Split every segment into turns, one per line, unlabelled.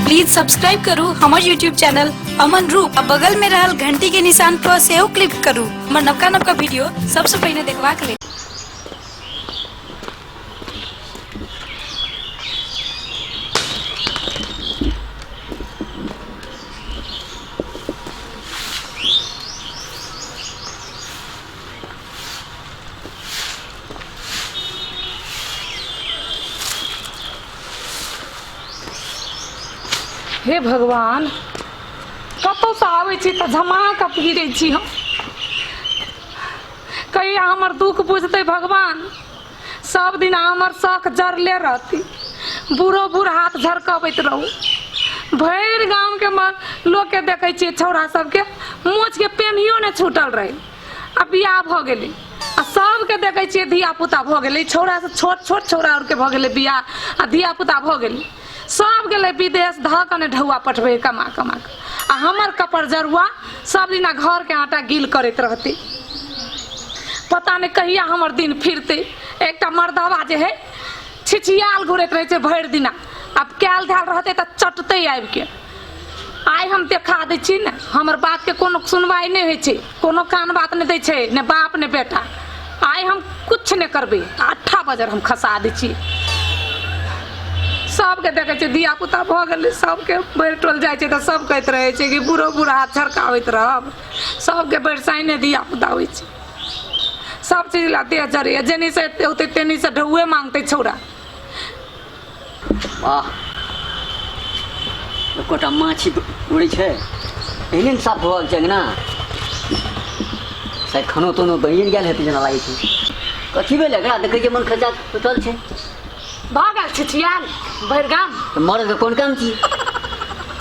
Please subscribe करू हमर YouTube channel Aman Roop आ बगल में रहल घंटी के निशान पर सेहो क्लिक करू हमर नवका नवका वीडियो सबसे पहिने देखबाक लेल
हे भगवान कतहुसँ आबै छी तऽ झमा कऽ फिरै छी हम कहिया हमर दुख बुझतै भगवान सब दिन हमर शौक जरले रहती बूढ़ो बूढ़ हाथ झरकबैत रहू भरि गामके म- लोकके देखै छियै छौड़ा सबके मोछके पेनियो नहि छूटल रहै आ बियाह भऽ गेलै आ सभके देखै छियै धिया पुता भऽ गेलै छौड़ा से छोट छोट छौड़ा आरके भऽ गेलै बियाह आ धिया पुता भऽ गेलै सभ गेलै विदेश धऽ कऽ ने ढौआ पठबै कमा कमा कऽ आ हमर कपर जरुआ सभ दिना घरके आटा गील करैत रहतै पता नहि कहिया हमर दिन फिरतै एकटा मर्दवा जे है छिछियाल घुरैत रहै छै भरि दिना आब कयल धयल रहतै तऽ चटतै आबि कऽ आइ हम देखा दै छी ने हमर बातके कोनो सुनवाइ नहि होइ छै कोनो कान बात नहि दै छै ने बाप ने बेटा आइ हम कुछ नहि करबै अट्ठा बजर हम खसा दै छी सबके देखै छै धिया पुता भऽ गेलै सबके बढ़ि टोल जाइ छै तऽ सब कहैत रहै छै कि बूढ़ो बूढ़ा हाथ छड़काबैत रहब सबके बढ़ि साइने धिया पुता होइ छै सब चीज ला देह जरैए जेनी से एते होतै तेनी से ढौए मांगतै छौड़ा
वाह एकोटा माछी उड़ै छै एहने ने साफ होबाक चाही ने शायद खानो तानो बनिए गेल हेतै जेना लागै छै कथी भेल एकरा देखै छियै मन खचा सुतल छै भऽ गेल
छिछियाल भरि गाम तऽ मरदके कोन
काम छी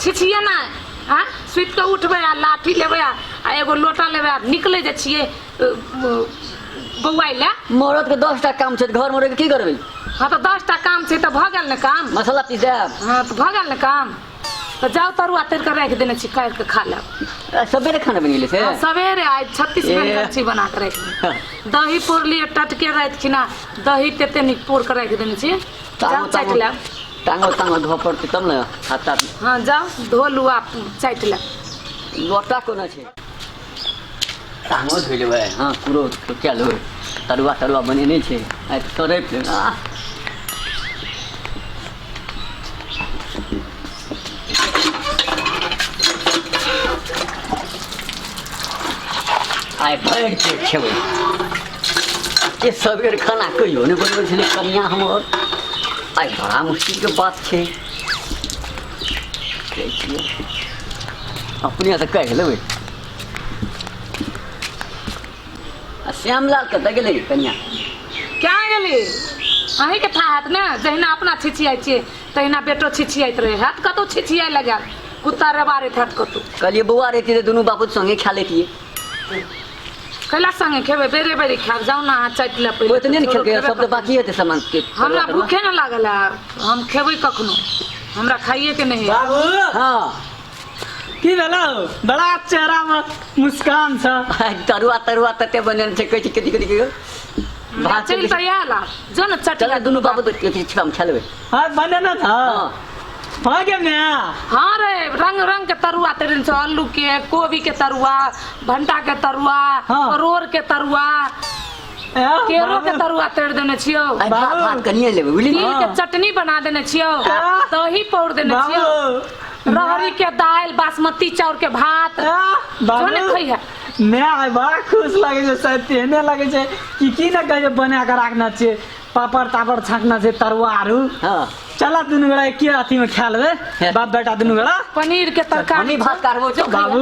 छिछिये
नहि हँ सुति कऽ उठबै आ लाठी लेबै आ आ एगो लोटा लेबै आ निकलै जे छियै बौआइ लए मरद के दस टा काम
छै तऽ घर में रह के की करबे हाँ तो दस टा
काम छै तो भऽ गेल ने काम मसाला पीस देब हाँ
तो भऽ गेल ने
काम तो जाओ तरुआ तर के राखि देने छी काटि के खा लेब आ, सबेरे खाना
बनि गेलै से हाँ, सवेरे आइ छत्तीस
ए। बन छी बना के राखि देने। दही पोर लिए टटके राति खिना दही तेते नीक पोर के राखि देने छी तांगो जाओ चाटि तांगो लेब तांगो तांगो धो
पड़तै तब ने हाथ ताथ हाँ जाओ
धो लुआ चाटि लेब लोटा
कोना छै तामो धोइ लेबै हँ कुरो कए लेबै तरुआ तरुआ बनेने छै आइ तरै आइ भरि पेट खेबै ये सबेर खाना कहियो नहि बनबै छलै कनिया हमर आइ बड़ा मुश्किलके बात छै अपने आता काय गेलं बाई श्यामला कता गेले कन्या क्या
गेली अही के था हाथ ना जहिना अपना छिछियाई छे तहिना बेटो छिछियाइत रहे हाथ कतो छिछियाई लगा कुत्ता रे बारे हाथ कतो कहलिए बौआ रहती तो
दोनों बापू संगे खा लेती
कैला संगे खेबै बेरे बेरे खायब जाउ ने अहाँ चाटि लए पहिले ओतने ने छोड़ू, खेलकै खेबै सब तऽ कखनो। बाकी
हेतै सामान के हमरा भूखे ने लागल
है हम खेबै कखनो हमरा खाइए के नहीं है बाबू हाँ
की भेलो बड़ा चेहरा में मुस्कान छ तरुआ तरुआ तते
बनल छै कहै छै कथी कथी कहियो भात
चलि तऽ आयल आ। जो ने चट चल दुनू बाबू के किछु
काम खेलबै हाँ बने ना था
हाँ। हो गेल ने हाँ रे
रंग रंग के तरुआ तेरे से आलू के कोबी के तरुआ भंटा के तरुआ हाँ। परोर के तरुआ ए, केरो के तरुआ तेर देने छियो आई भात भात कनिए
लेबै बुझली तिल के चटनी बना
देने छियो हाँ। दही पौर देने छियो बाबू रहरी के दाल बासमती चाउर के भात ए, जोने बाबू खैया मैं आइ बड़ा
खुश लगे छै सर तेहने लगे छै कि की न कहे बना के राखना छै पापड़ तापड़ छाकना छै तरुआ आरू हाँ चला
दुनू गोड़ा
एके अथी में खा लेबे बाप बेटा दुनू गोड़ा पनीर के तरकारी
हमही भात करबो छौ बाबू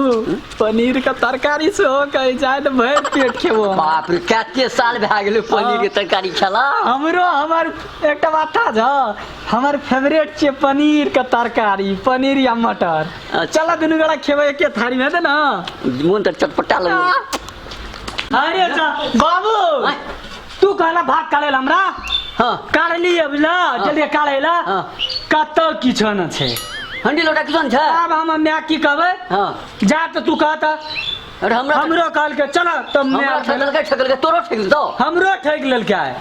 पनीर के तरकारी से हो कहे जाए तो भर पेट खेबो हम। बाप रे कते
साल भए गेलै पनीर के तरकारी खेला हमरो हमर
एकटा बात था जा हमर फेवरेट छै पनीर के तरकारी पनीर या मटर अच्छा। चला दुनू गोड़ा खेबे एके थारी में दे ना मोन तऽ
चटपटा लगो
अरे जा बाबू आँय, तू कहला भाग काढ़े ला हमरा हाँ काढ़
लिए बुझला
जल्दी काढ़े ला हाँ। कत किछ न छै हंडी लोटा किसान
छै आब हम माय की
कहबै हाँ जा
त तू कहत
अरे हमरा
हमरो कहल के चल त माय
हमरा ठकल
के
ठकल के तोरो
ठकल तो हमरो ठेक
लेलके आय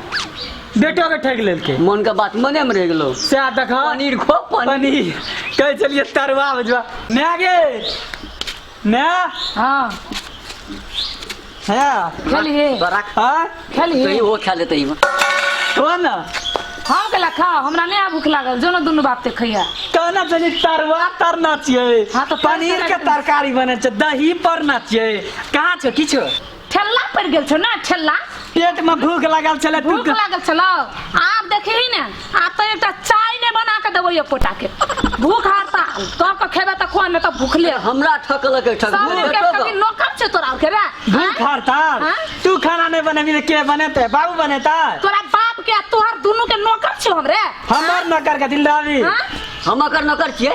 बेटो के ठेक लेलके मन के बात मने में रह
गेलो सएह देखा पनीर
खो पनीर
पनीर
कहै छलियै तरुआ बुझबा माय गे माय हाँ
है
खेलिए
बराक
हाँ सही
खेलिए वो खा
लेते ही
हो ना
हम
के लखा हमरा नहीं आ भूख लागल जो ना दुनू बाप ते खैया कहना चाहिए
तरवा तरना चाहिए हाँ, तो पनीर के
तरकारी
बने छै दही परना चाहिए कहाँ छौ किछो ठेल्ला पड़ गेल छौ
ना ठेल्ला पेट में भूख
लागल छले भूख लागल छलो
आब देखही ने आ तो एकटा चाय ने बना के देबो ये पोटा के भूख हारता तो के खेबे त कोन त भूखले हमरा ठकल के
ठक सब के कभी नौकर
छ तोरा के रे भूख हारता हाँ?
तू खाना
नहीं बनेबी
तो के बनेते बाबू बनेता तोरा बाप के
आ तोहर दुनू के नौकर छ हमरे हमर नौकर के
दिल रवि हाँ? हम
अकर नौकर
छिए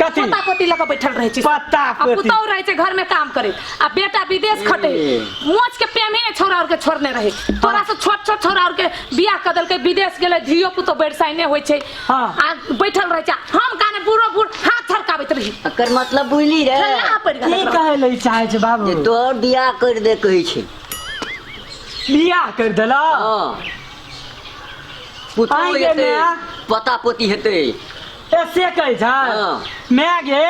कथी पता कोटी लऽ
कऽ बैठल
रहै छी पता आ कोटी। पुतौह रहै
छै घर
में
काम
करे आ बेटा विदेश खटे मोच के पेमे ने छोरा और के छोड़ने रहे तोरा से छोट छोट छोरा और के बियाह कर देलकै विदेश गेलै धियो पुतो बैरसाई ने होइ छै हाँ। आ
बैठल रहै
छै हम काने बूढ़ो बूढ़ हाथ थरकाबैत रही एकर मतलब बुझली
रे खेलना पड़ि की गेल कहै
लए चाहै
छै
बाबू
जे तोहर बियाह कर
दे कहै छै
बियाह कर देला हाँ।
पुतहु आइ गेल हेतै,
नया। पता पोती
हेतै ए से
कहै छै हाँ। माय
गे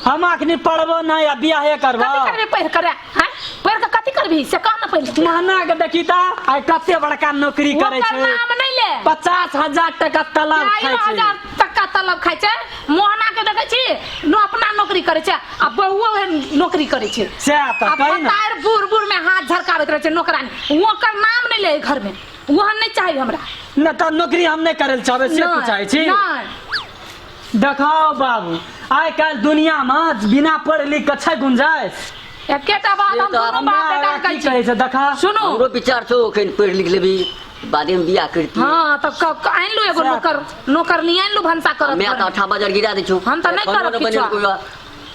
हम अखनी पढ़बो नहि आ बियाहे करबो कथी करबी पढ़ि कर हैं
पढ़ि के कथी करबी से कह ना पहिले महना के देखी ता
आइ कते बड़का नौकरी करै ओकर छै नाम नहीं ले पचास
हजार टाका
तलब चारि खाइ छै हजार टका तलब
खाइ छै मोहना के देखै छी नो अपना नौकरी करै छै आ बौओ ओहे नौकरी करै छै सएह तऽ आ कही ने
बताएर बूढ़
बूढ़
में
हाथ झरकाबैत रहै छै नौकरानी ओकर नाम नहीं ले घर में ओहन नहि चाही हमरा न तऽ नौकरी
हम नहि करल चाहबै से तू चाहै छी नहि
देखाओ
बाबू आइ काल्हि दुनियामे बिना पढ़ लिख के छै गुंजाइश एकेटा बात हम
दुनू हमरा बाप बेटा के की कहै
कहै
छी छै देखा
सुनू
हमरो
विचार
छौ एखन
पढ़ि लिख लेबी बादेमे बियाह करिती हाँ तऽ क- क-
आनि लू एगो सएह। नौकर नौकर नहीं आनि लू भनसा करत हमे तऽ घरमे। अठाबा हजार गिरा
दै छौ हम तऽ नहि कोनो करब ने बनेलको
किछो। यऽ।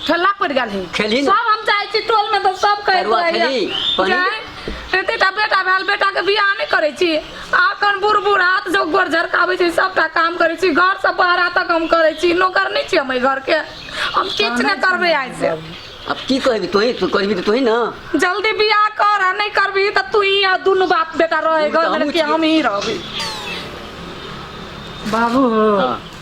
ठेला पड़ गेल है खेलही ना। सब हम जाइ छी
टोल में
तऽ सब कहि तरुआ देबै खेलही,
पानी- जाय एतेटा
बेटा भेल बेटा के बियाह नहि करै छी आखन बूढ़ बूढ़ हाथ जो गोर झरकाबै छै सबटा काम करै छी घर से बाहर तक हम करै छी नौकर नहि छी हम एहि घर के हम किछु नहि करबै आइ से अब की कहबी
तोही तू कहबी तो तोही ना जल्दी बियाह
कर आ नहि करबही तऽ तू ही आ दुनू बाप बेटा रहे हम तऽ घर हमहूँ में कि छी। हम ही रहबै
बाबू हो हाँ।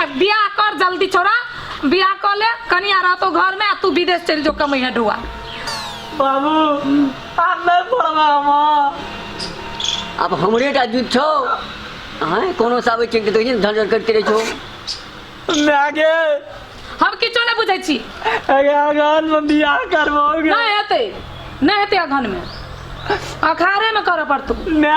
आ बियाह कर जल्दी छोरा बियाह कर ले कनिया रहतो घर में आ तू विदेश चल जो कमई है ढुआ बाबू
आप नहीं पढ़वा हम
अब हमरे टा जुट छौ हैं कोनो साबे चिंतित होइ छै झंझट करते रहै छौ मैं
आगे
हम किछो नहीं बुझे छी आगे आगान
में बियाह करवाओगे नहीं हेते
नहीं हेते अखन में अखारे में करऽ पड़तौ ना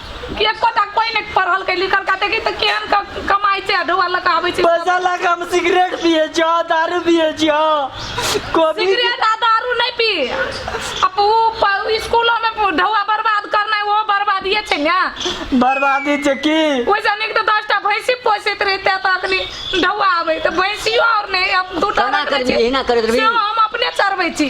कि एको टा कोई ने पढ़ल के लिखल का देखी तो केहन का कमाई से ढोआ लगा आवे छै पैसा लगा हम सिगरेट
पिए छ दारू पिए छ कोबी सिगरेट आ दारू
नहीं पी अब वो प- स्कूलों में ढोआ बर्बाद करना है वो बर्बाद ये छै ना बर्बादी छै
की वैसे हमने तो दस
टा भैंसी पोसैत रहते तो अखनी ढोआ आवे तो भैंसियो और नहीं अब दू टा केना रखने करबी? छी। एहिना करैत
रहबी? सेहो हम अपने चरबै
छी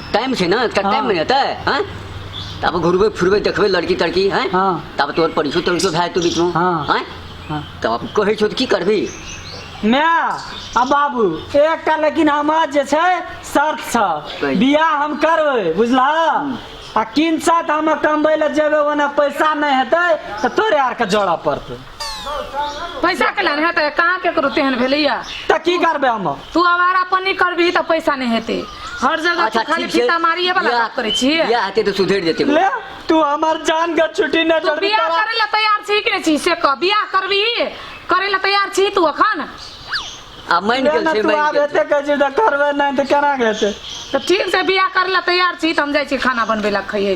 टाइम छै ना कते हाँ। मिनट है हैं तब घुरबे फिरबे देखबे लड़की तड़की हैं हाँ। तब तोर परिचय
तोर
भए तू बीच में हाँ।
हैं
हाँ। तब
कहै छौ तऽ की
करबी
माय आ बाबू एकटा लेकिन हमर जे छै शर्त छ कही। बियाह हम करबै बुझलह आ किन साथ हम कमबै लए जेबै ओना पैसा नहि हेतै तऽ तोरे आरके जोड़ऽ पड़तै
पैसा के लाने है तो कहाँ के करू तेहन भेलैया तऽ की करबै हम
तू आवारा पन्नी
करबी तऽ पैसा नहीं हेते हर जगह तू खाली फीता मारिए वाला बात करे छी बियाह हेतै तऽ सुधरि जेतै
ले तू हमर
जान के छुट्टी न तू छोड़ बियाह करे ला तैयार
छी कि नहीं छी से कह बियाह करबी करे ला तैयार छी तू अखन आ
मानि गेल छै तू मानि आब गेल छै। एते कहै छी
तऽ
करबै
नहि तऽ केना हेतै तऽ ठीक छै बियाह
करे ला तैयार छी तऽ हम जाइ छी खाना बनबे ला खइए